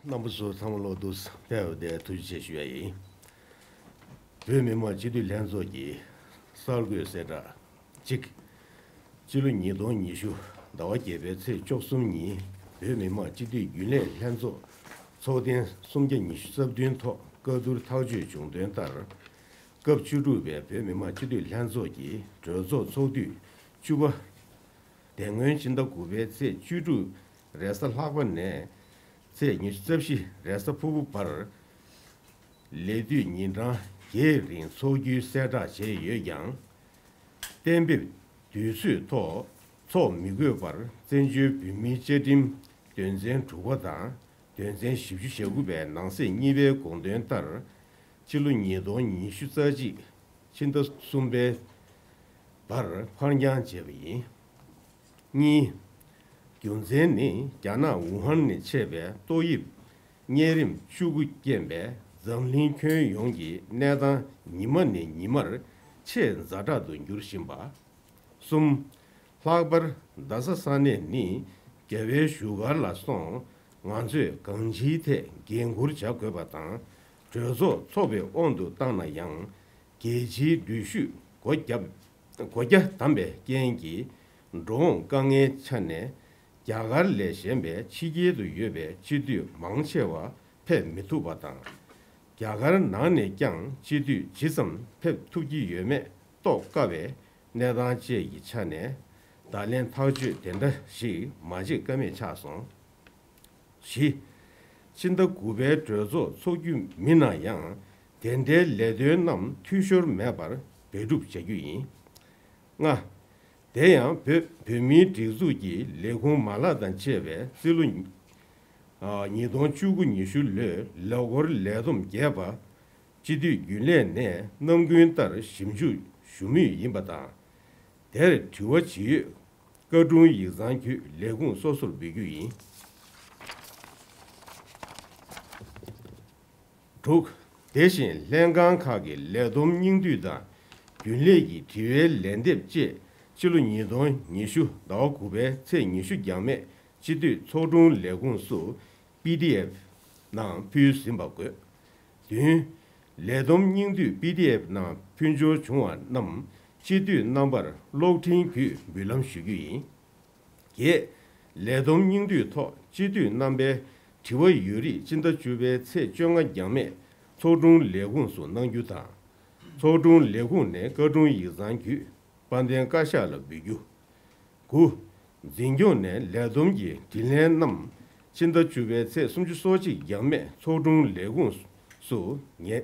རྣམ་པ་ཚོ་ཚང་མ་བློ་བསྡུ་ཟབ་སྤེལ་འོས་ཏེ་ཐུགས་རྗེ་ཆེ་ཞུ་ཡ་ཡིན། བོད་མི་མང་སྤྱི་འཐུས་ལྷན་ཚོགས་ཀྱིས་གསར་འགོད་གསལ་བསྒྲགས་གཅིག། སྤྱི་ལོ་ཉིས་སྟོང་ཉི་ཤུ་ཟླ་བ་བརྒྱད་པའི་ཚེས་བཅོ་གསུམ་ཉིན་བོད་མི་མང་སྤྱི་འཐུས་རྒྱུན་ལས་ལྷན་ཚོགས་ཚོགས་ཐེངས་སུམ་བརྒྱ་ཉི་ཤུ་རྩ་བདུན་ཐོག་བཀའ་བསྡུར་ཐག་གཅོད་བྱུང་དོན་ལྟར། སྐབས་བཅུ་དྲུག་པའི་བོད་མི་མང་སྤྱི་འཐུས་ལྷན་ཚོགས་ཀྱི་གྲོས་ཚོགས་ཚོགས་དུས་བཅུ་པ། དེ་སྔོན་སྤྱི་ཟླ་དགུ་པའི་ཚེས་བཅུ་དྲུག་རེས་གཟའ་ལྷག་པ་ནས་ཚེས་ཉེར་བཞི་རྩ་བཞི་རེས་གཟའ་ཕུར་བུ་བར། ལས་དུས་ཉིན་གྲངས་བརྒྱད་རིང་འཚོགས་རྒྱུའི་གསལ་བསྒྲགས་བྱས་ཡོད་ཀྱང། གཏན་འབེབས་དུས་ཚོད་ཐོག་འཚོགས་མི་དགོས་པར་བཙན་བྱོལ་བོད་མིའི་བཅའ་ཁྲིམས་དོན་ཚན་དྲུག་པ་དང་དོན་ཚན་བཞི་བཅུ་ཞེ་དགུ་པའི་ནང་གསེས་གཉིས་པའི་དགོངས་དོན་ལྟར། ཕྱི་ལོ་ཉིས་སྟོང་ཉི་ཤུ་རྩ་གཅིག་ཕྱི་ཟླ་གསུམ་པའི་བར་འཕར་འགྱངས་བྱས་པ་ཡིན། གཉིས། རྒྱུ་མཚན་ནི་རྒྱ་ནག་ཝུ་ཧན་ནས་མཆེད་པའི་ཏོག་དབྱིབས་གཉན་རིམས་བཅུ་དགུ་རྐྱེན་པས་འཛམ་གླིང་ཁྱོན་ཡོངས་ཀྱི་གནས་སྟངས་ཉི་མ་ནས་ཉི་མར་ཆེས་འཛའ་དྲག་ཏུ་འགྱུར་བཞིན་པ། གསུམ། ལྷག་པར་རྡ་ས་ས་གནས་ནི་རྒྱལ་བའི་བཞུགས་སྒར་ལ་སོང་ང་ཚོས་གང་ཅིའི་ཐད་འགན་འཁུར་བྱ་དགོས་པ་དང་གྲོས་ཚོགས་འཚོགས་པའི་དབང་དུ་བཏང་ན་ཡང་རྒྱལ་སྤྱིའི་འགྲུལ་བཞུད་སྒོ་བརྒྱབ་སྒོ་རྒྱ་བསྡམས་པའི་རྐྱེན་གྱིས་འགྲོ་འོང་དཀའ་ངལ་ཆགས་ནས་རྒྱ་གར་ལས་གཞན་པའི་ཕྱི་རྒྱལ་དུ་ཡོད་པའི་སྤྱི་འཐུས་མང་ཆེ་བ་ཕེབས་མི་ཐུབ་པ་དང། རྒྱ་གར་ནང་ནས་ཀྱང་སྤྱི་འཐུས་ཇི་ཙམ་ཕེབས་ཐུབ་ཀྱི་ཡོད་མེད་རྟོགས་དཀའ་བའི་གནས་སྟངས་བཅས་ཀྱི་ཆ་ནས་བརྡ་ལན་ཐག་གཅོད་དེ་འདྲ་ཞིག་མ་བྱེད་ཀ་མེད་ཆགས་སོང། བཞི། སྤྱི་ཟླ་དགུ་པའི་གྲོས་ཚོགས་འཚོགས་རྒྱུ་མིན་ན་ཡང་དེ་འདྲའི་ལས་དོན་རྣམས་འཐུས་ཤོར་མེད་པར་འབད་སྒྲུབ་བྱ་རྒྱུ་ཡིན། ལྔ། དེ་ཡང་བོད་བོད་མིའི་སྒྲིག་འཛུགས་ཀྱི་ལས་ཁུངས་མ་ལག་དང་བཅས་པའི་རྩིས་ལོ། ཉིས་སྟོང་བཅུ་དགུ་ཉི་ཤུ་ལོའི་ལས་སྒོར་ལས་བསྡོམས་བརྒྱད་པ། སྤྱི་འཐུས་རྒྱུན་ལས་ནས་རྣམ་ཀུན་ལྟར་ཞིབ་འཇུག་ཞུ་མུས་ཡིན་པ་དང། དེར་དྲི་བ་ཇི་ཡོད་བཀའ་དྲུང་ཡིག་ཚང་བརྒྱུད་ལས་ཁུངས་སོ་སོར་འབུལ་རྒྱུ་ཡིན། དྲུག། དེ་བཞིན་ལྷན་ཁང་ཁག་གི་ལས་བསྡོམས་སྙིང་བསྡུས་དང་རྒྱུན་ལས་ཀྱི་དྲི་བའི་ལན་འདེབས་བཅས་ཕྱི་ལོ་ཉིས་སྟོང་ཉི་ཤུ་ཟླ་བ་དགུ་པའི་ཚེས་ཉི་ཤུ་འགྱངས་མེད་སྤྱི་འཐུས་ཚོགས་དྲུང་ལས་ཁུངས་སུ། PDF། ནང་ཕུལ་ཟིན་པ་དགོས། བདུན། ལས་བསྡོམས་སྙིང་བསྡུས PDF ནང་ཕུལ་འབྱོར་བྱུང་བ་རྣམས་སྤྱི་འཐུས་རྣམ་པར་གློག་འཕྲིན་བརྒྱུད་འབུལ་ལམ་ཞུ་རྒྱུ་ཡིན། བརྒྱད། ལས་བསྡོམས་སྙིང་བསྡུས་ཐོག་སྤྱི་འཐུས་རྣམ་པའི་དྲི་བ་ཡོད་རིགས་སྤྱི་ཟླ་བཅུ་པའི་ཚེས་བཅོ་ལྔ་འགྱངས་མེད་ཚོགས་དྲུང་ལས་ཁུངས་སུ་གནང་རྒྱུ་དང། ཚོགས་དྲུང་ལས་ཁུངས་ནས་བཀའ་དྲུང་ཡིག་ཚང་བརྒྱུད་དཔལ་ལྡན་བཀའ་ཤག་ལ་འབུལ་རྒྱུ། དགུ། འཛིན་སྐྱོང་ནས་ལས་བསྡོམས་ཀྱི་དྲིས་ལན་རྣམས་ཕྱི་ཟླ་བཅུ་པའི་ཚེས་སུམ་ཅུ་སོ་གཅིག་འཇགས་མེད་ཚོགས་དྲུང་ལས་ཁུངས་སུ་ཉན་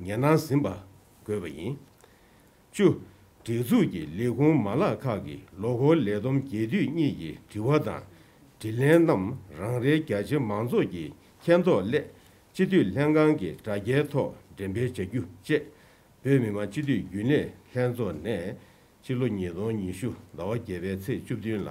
གནང་ཟིན་པ་དགོས་པ་ཡིན། བཅུ། སྒྲིག་འཛུགས་ཀྱི་ལས་ཁུངས་མ་ལག་ཁག་གི་ལོ་འཁོར་ལས་བསྡོམས་རྒྱས་བསྡུས་གཉིས་ཀྱི་དྲི་བ་དང་དྲིས་ལན་རྣམས་རང་རེའི་རྒྱ་ཆེ་མང་ཚོགས་ཀྱི་མཁྱེན་རྟོགས་སླད་སྤྱི་འཐུས་ལྷན་ཁང་གི་དྲ་རྒྱའི་ཐོག་འགྲེམས་སྤེལ་བྱ་རྒྱུ་བཅས། བོད་མི་མང་སྤྱི་འཐུས་རྒྱུན་ལས་ལྷན་ཚོགས་ནས་སྤྱི་ལོ་ཉིས་སྟོང་ཉི་ཤུ་ཟླ་བ་བརྒྱད་པའི་ཚེས་བཅུ་བདུན་ལ།